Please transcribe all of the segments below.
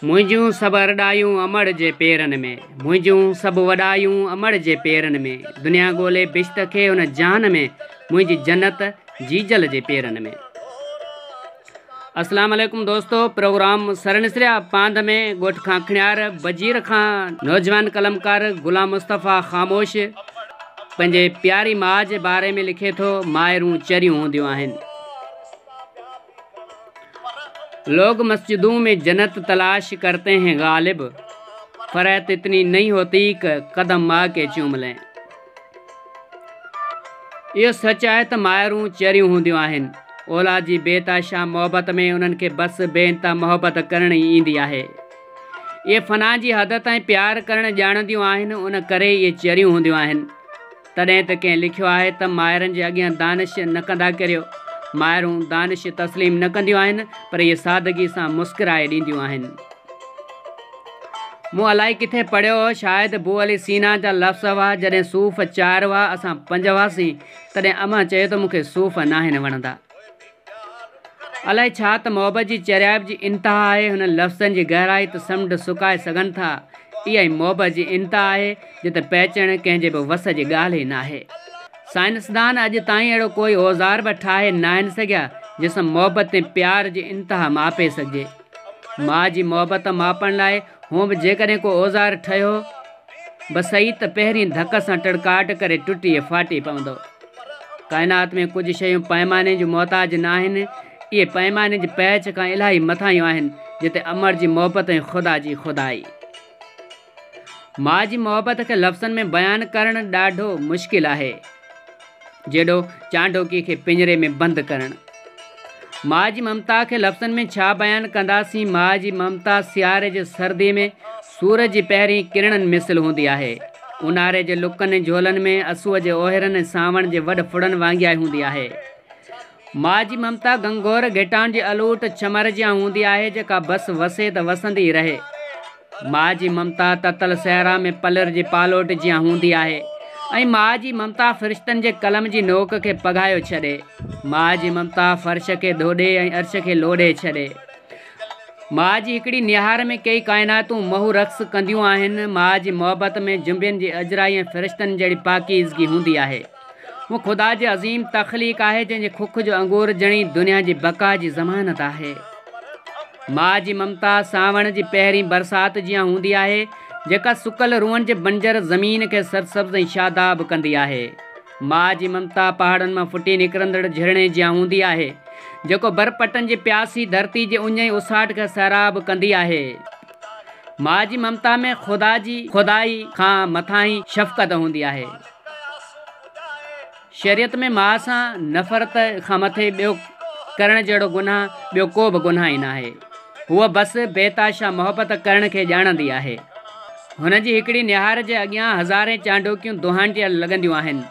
منهنجون سڀ ارڏايون امڙ جي پيرن ۾، منهنجون سڀ وڏايون امڙ جي پيرن ۾، دنيا ڳولي بهشت کي ان جهان ۾، منهنجي جنت جيجل جي پيرن ۾. اسلام عليڪم دوستو پروگرام سرنسريا پانڌ ۾ ڳوٺ کانکڻيار بجير کان نوجوان قلمڪار غلام مصطفيٰ خاموش پنهنجي پياري ماء جي باري ۾ لکي ٿو مائرون چريون هونديون آهن. لوگ مسجدون مين جنت تلاش ڪرتي هين غالب فرحت اتني نهي هوتي ڪه قدم ماء ڪي چوم لين اهو سچ آهي ته مائرون چريون هونديون آهن اولاد جي بي تاشا محبت ۾ انهن کي بس بي انتها محبت ڪرڻي ايندي آهي اهي فنا جي حد تائين پيار ڪرڻ ڄاڻنديون آهن ان ڪري اهي چريون هونديون آهن تڏهن ته ڪنهن لکيو آهي ته مائرن جي اڳيان دانش نه ڪندا ڪريو. مائرون دانش تسليم نه ڪنديون آهن پر اهي سادگي سان مسڪرائي ڏينديون آهن. مون الائي ڪٿي پڙهيو هو شايد بو علي سينا جا لفظ هئا جڏهن صوف چار هئا اسان پنج هئاسين تڏهن امان چيو ته مون کي صوف ناهن وڻندا. الائي ڇا ته محبت جي چريائپ جي انتها آهي، هنن لفظن جي گهرائي ته سمنڊ سڪائي سگهن ٿا، اها ئي محبت جي انتها آهي، جتي پهچڻ ڪنهن جي به وس جي ڳالهه ئي ناهي. سائنسدان اڄ تائين اهڙو ڪوئي اوزار به ٺاهي ناهن سگهيا، جنهن سان محبت ۽ پيار جي انتها ماپي سگهجي. ماء جي محبت ماپڻ لاء هونء به جيڪڏهن ڪو اوزار ٺهيو، بسئي ته پهرين ڌڪ سان ٽڙڪاٽ ڪري ٽٽي ڦاٽي پوندو. ڪائنات ۾ ڪجهه شيون پئماني جون محتاج ناهن، اهي پئماني جي پيچ کان الاهي مٿاهيون آهن، جتي امڙ جي محبت ۽ خدا جي خدائي. ماء جي محبت کي لفظن ۾ بيان ڪرڻ ڏاڍو مشڪل آهي. جهڙو چانڊوڪي کي پڃري ۾ بند ڪرڻ. ماء جي ممتا کي لفظن ۾ ڇا بيان ڪنداسين، ماء جي ممتا سياري جي سردي ۾ سورج جي پهرين ڪرڻن مثل هوندي آهي، اونهاري جي لڪن ۽ جهولن ۾ اسوء جي اوهيرن ۽ سانوڻ جي وڏ ڦڙن وانگيائي هوندي آهي. ماجي ممتا گنگور گهٽان جي الوٽ چمر جيان هوندي آهي جيڪا بس وسي ته وسندي رهي. ماجي ممتا تتل صحرا ۾ پلر جي پالوٽ جيان هوندي آهي ۽ ماجي ممتا فرشتن جي قلم جي نوڪ کي پگهايو ڇڏي. ماجي ممتا فرش کي ڌوڏي ۽ عرش کي لوڏي ڇڏي. ماجي هڪڙي نهار ۾ ڪيئي ڪائناتون مهو رقص ڪنديون آهن. ماجي محبت ۾ جنبين جي اجرائي ۽ فرشتن جهڙي پاڪيزگي هوندي آهي. هو خدا جي عظيم تخليق آهي، جنهن جي کک جو انگور ڄڻي دنيا جي بقا جي ضمانت آهي. ماء جي ممتا سانوڻ جي پهرين برسات جيان هوندي آهي، جيڪا سڪل روئن جي بنجر زمين کي سرسبز ۽ شاداب ڪندي آهي. ماء جي ممتا پهاڙن مان ڦٽي نڪرندڙ جهرڻي جيان هوندي آهي، جيڪو برپٽن جي پياسي ڌرتي جي اڃ ۽ اساٽ کي سيراب ڪندي آهي. ماء جي ممتا ۾ خدا جي خدائي کان مٿانهين شفقت هوندي آهي. شريعت ۾ ماء سان نفرت کان مٿي ٻيو ڪرڻ جهڙو گناهه ٻيو ڪو به گناهه ئي ناهي. هوء بس بيتحاشا محبت ڪرڻ کي ڄاڻندي آهي. هن جي هڪڙي نهار جي اڳيان هزارين چانڊوڪيون دونهانٽيل لڳنديون آهن.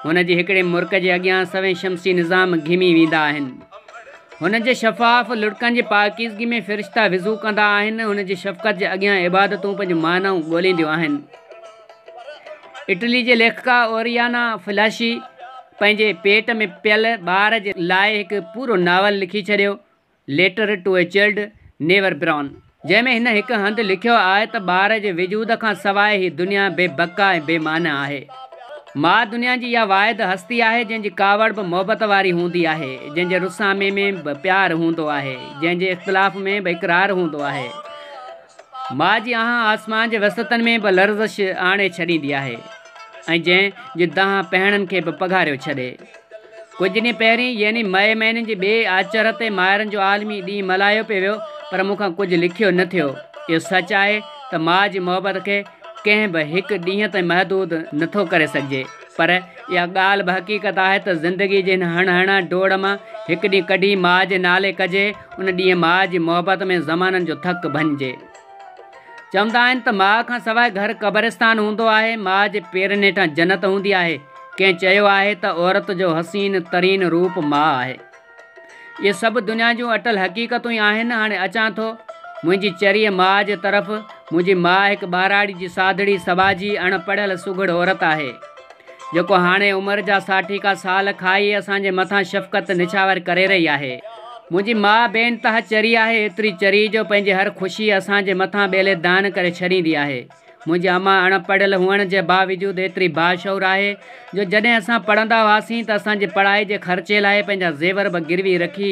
هن جي هڪڙي مرڪ جي اڳيان سوين شمسي نظام گهمي ويندا آهن. هن جي شفاف لڙڪن جي پاڪيزگي ۾ فرشتا وضو ڪندا آهن. هن جي شفقت جي اڳيان عبادتون پنهنجون معنائون ڳولينديون آهن. اٽلي جي ليکڪا اوريانا فلاشي پنهنجي پيٽ ۾ پيل ٻار جي لاء هڪ پورو ناول لکي ڇڏيو، letter to a child never born, جنهن ۾ هن هڪ هنڌ لکيو آهي ته ٻار جي وجود کان سواء هي دنيا بي بقا ۽ بي معنيٰ آهي. ماء دنيا جي اها واحد هستي آهي، جنهن جي ڪاوڙ به محبت واري هوندي آهي، جنهن جي رسامي ۾ به پيار هوندو آهي، جنهن جي اختلاف ۾ به اقرار هوندو آهي. ماء جي آهه آسمان جي وسعتن ۾ به لرزش آڻي ڇڏيندي آهي ۽ جنهن جي دانهن پهڻن کي به پگهاريو ڇڏي. ڪجهه ڏينهن پهرين يعني مئي مهيني جي ٻئي آچر تي مائرن جو عالمي ڏينهن ملهايو پئي ويو پر مون کان ڪجهه لکيو نه ٿيو. اهو سچ آهي ته ماء جي محبت کي ڪنهن به هڪ ڏينهن تائين محدود نه ٿو ڪري سگهجي. پر اها ڳالهه به حقيقت آهي ته زندگيء جي هن هڻ هڻ ڊوڙ مان هڪ ڏينهن ڪڍي ماء جي نالي ڪجي، ان ڏينهن ماء جي محبت ۾ زمانن جو ٿڪ ڀڃجي. چوندا آهن ته ماء کان سواء گهر قبرستان هوندو آهي، ماء جي پيرن هيٺان جنت هوندي آهي، ڪنهن چيو آهي ته عورت جو حسين ترين روپ ماء آهي. اهي سڀ دنيا جون اٽل حقيقتون ئي آهن. هاڻي اچان ٿو منهنجي چريي ماء جي طرف. منهنجي ماء هڪ ٻهراڙي جي سادڙي سٻاجهي اڻ پڙهيل سگهڙ عورت آهي، جيڪو هاڻي عمر جا ساٺيڪا سال کائي اسان جي مٿان شفقت نڇاور ڪري رهي آهي. منهنجي ماء بي انتها چري آهي، ايتري چري جو پنهنجي هر خوشي اسان جي مٿان ٻيلي دان ڪري ڇڏيندي آهي. منهنجي اما اڻ پڙهيل هئڻ جي باوجود ايتري باشعور آهي جو جڏهن اسان پڙهندا هئاسين ته اسان جي پڙهائي جي خرچي لاء پنهنجا زيور به گروي رکي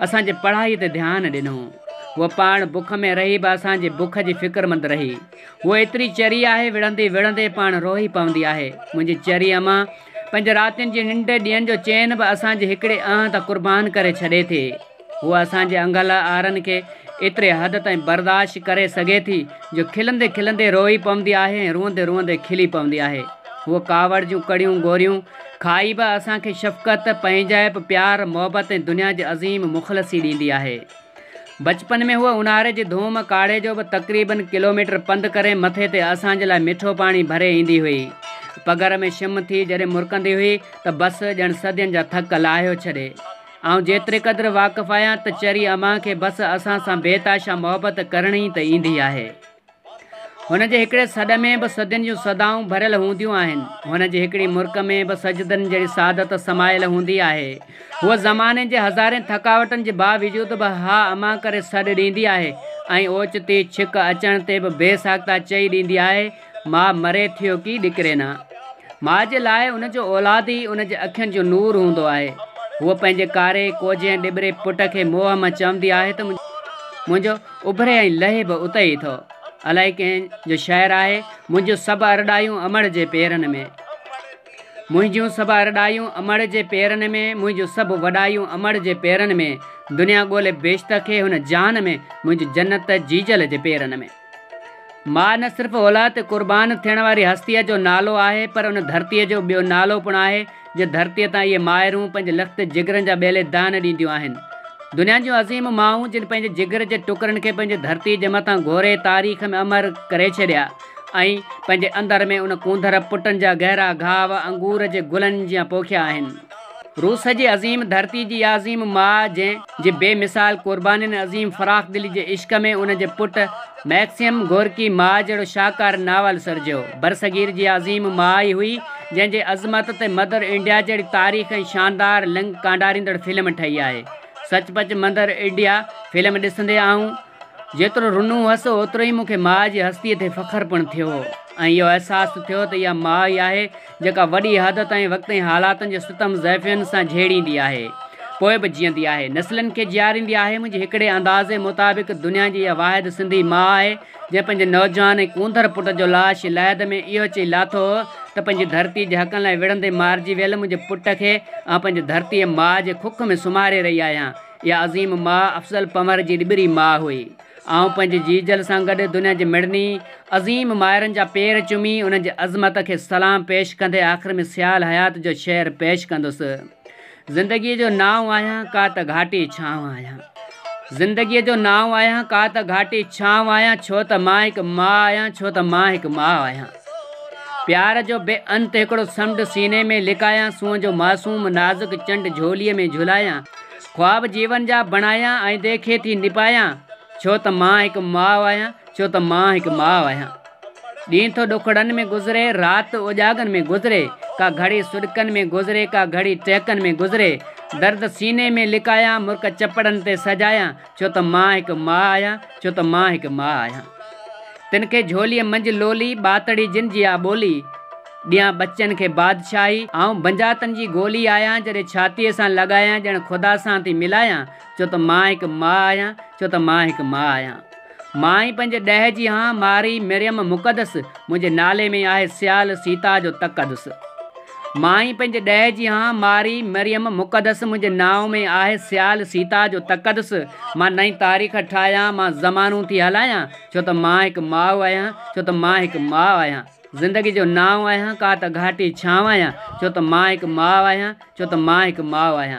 اسان جي پڙهائي تي ڌيان ڏنو. هوء پاڻ بک ۾ رهي به اسان جي بک جي فڪرمند رهي. هوء ايتري چري آهي وڙهندي وڙهندي پاڻ روئي پوندي آهي. منهنجي چري اما پنهنجي راتين جي ننڊ ڏينهن جو چين به اسان جي هڪڙي اهنڌ قربان ڪري ڇڏي ٿي. هوء اسان جي انگل آرن کي ايتري حد تائين برداشت ڪري سگهي ٿي جو کلندي کلندي روئي پوندي آهي ۽ روئندي روئندي کلي پوندي آهي. هوء ڪاوڙ جون ڪڙيون گوريون کائي به اسان کي شفقت، پنهنجائپ، پيار، محبت ۽ دنيا جي عظيم مخلصي ڏيندي آهي. بچپن ۾ هوء اونهاري جي ڌوم ڪاڙهي جو به تقريباً ڪلوميٽر پنڌ ڪري مٿي تي اسان جي لاء مٺو پاڻي ڀري ايندي هئي. پگهر ۾ شم ٿي جڏهن مرڪندي هئي ته بس ڄڻ صدين جا ٿڪ لاهيو ڇڏي. آئون جيتري قدر واقف آهيان ته چري امان کي بس اسان سان بي تاشا محبت ڪرڻي ته ايندي آهي. هن جي هڪڙي سڏ ۾ به صدين جون صدائون ڀريل هونديون آهن. هن جي هڪڙي مرڪ ۾ به سجدن جهڙي سعادت سمايل هوندي آهي. هوء زماني جي هزارين ٿڪاوٽن جي باوجود به ها امان ڪري سڏ ڏيندي آهي ۽ اوچتي ڇڪ اچڻ تي به بي ساخته چئي ڏيندي آهي ماء مري ٿيو ڪي ڏڪري نه. ماء جي لاء ان جو اولاد ئي ان جي اکين جو نور هوندو آهي. هوء پنهنجي ڪاري، ڪوجهي ۽ ڏٻري پٽ کي موهه مان چوندي آهي ته منهنجو اڀري ۽ لهي به اتي ئي ٿو. الائي ڪنهن جو شعر آهي، منهنجون سڀ ارڏايون امڙ جي پيرن ۾. منهنجون سڀ ارڏايون امڙ جي پيرن ۾، منهنجون سڀ وڏايون امڙ جي پيرن ۾، دنيا ڳولي بهشت کي هن جهان ۾، منهنجون جنت جيجل جي پيرن ۾. ماء نه صرف اولاد تي قربان ٿيڻ واري هستيء جو نالو آهي پر ان ڌرتيء جو ٻيو نالو پڻ آهي جنهن ڌرتيء تان اهي مائرون پنهنجي لکت جگرن جا ٻيلي دانه ڏينديون آهن. دنيا جون عظيم مائون جن پنهنجي جگر جي ٽڪرن کي پنهنجي ڌرتيء جي مٿان گهوري تاريخ ۾ امر ڪري ڇڏيا ۽ پنهنجي اندر ۾ ان ڪونڌر پٽن جا گهرا گهاء انگور جي گلن جيان پوکيا آهن. روس جي عظيم ڌرتي جي اها عظيم ماء جنهن جي بي مثال قربانين ۽ عظيم فراخ دلي جي عشق ۾ ان جي پٽ مئڪسيم گورڪي ماء جهڙو شاهڪار ناول سرجيو. برصغير جي اها عظيم ماء ئي هئي جنهن جي عظمت تي مدر انڊيا جهڙي تاريخ ۽ شاندار لنگ ڪانڊاريندڙ فلم ٺهي آهي. سچ پچ مدر انڊيا فلم ڏسندي آئون جيترو رنو هئس اوترو ئي مون کي ماء جي هستي تي فخر پڻ ٿيو ۽ اهو احساس ٿيو ته اها ماء ئي آهي جيڪا وڏي حد تائين وقت ۽ حالاتن جي ستم زيفين سان جهيڙيندي آهي، پوء به جيئندي آهي، نسلن کي جياريندي آهي، منهنجي هڪڙي اندازي مطابق دنيا جي اها واحد سنڌي ماء آهي، جنهن پنهنجي نوجوان ۽ ڪونڌر پٽ جو لاش لحد ۾ اهو چئي لاٿو هو ته پنهنجي ڌرتي جي حقن لاء وڙهندي مارجي ويل منهنجي پٽ کي آئون پنهنجي ڌرتي ماء جي کک ۾ سمهاري رهي آهيان. اها عظيم ماء افضل پنهور جي ڏٻري ماء هئي. آئون پنهنجي جيجل سان گڏ دنيا جي مڙني عظيم مائرن جا پير چمي انهن جي عظمت کي سلام پيش ڪندي آخر ۾ سيال حيات جو شعر پيش ڪندس زندگيء جو نانء آهيان ڪا ته گهاٽي ڇانء آهيان زندگيء جو نانء آهيان ڪا ته گهاٽي ڇانء آهيان ڇو ته مان هڪ ماء آهيان ڇو ته مان هڪ ماء آهيان پيار جو بي انت هڪڙو سمنڊ سيني ۾ لڪايان سونهن جو معصوم نازڪ چنڊ جهوليء ۾ جهلايان خواب جيون جا بڻايان ۽ دي کي ٿي نڀايان ڇو ته مان هڪ ماء آهيان ڇو ته مان هڪ ماء آهيان ڏينهن ٿو ڏکڙن ۾ گذري رات اوڄاڳن ۾ گذري ڪا گهڙي سڏڪن ۾ گذري ڪا گهڙي ٽهڪن ۾ گذري درد سيني ۾ لڪايان مرڪ چپڙن تي سجايان ڇو ته مان هڪ ماء آهيان ڇو ته مان هڪ ماء آهيان تن کي جهولي منجهه لولي ٻاتڙي جن جي آ ٻولي ڏيان ٻچن کي بادشاهي، آئون بنجاتن جي گولي آهيان، جڏهن ڇاتيء سان لڳايان ڄڻ خدا سان ٿي ملايان، ڇو ته مان هڪ ماء آهيان، ڇو ته مان هڪ ماء آهيان. مان ئي پنهنجي ڏهه جي هان، مارئي، مريم مقدس، منهنجي نالي ۾ آهي سيال، سيتا جو تقدس. مان ئي پنهنجي ڏهه جي هان، مارئي، مريم مقدس، منهنجي نانء ۾ آهي سيال، سيتا جو تقدس. مان نئين تاريخ ٺاهيان، مان زمانون ٿي هلايان، ڇو ته مان هڪ ماء آهيان، ڇو ته مان هڪ ماء آهيان. زندگي جو نانء آهيان، ڪا ته گهاٽي ڇانء آهيان، ڇو ته مان هڪ ماء آهيان، ڇو ته مان هڪ ماء آهيان.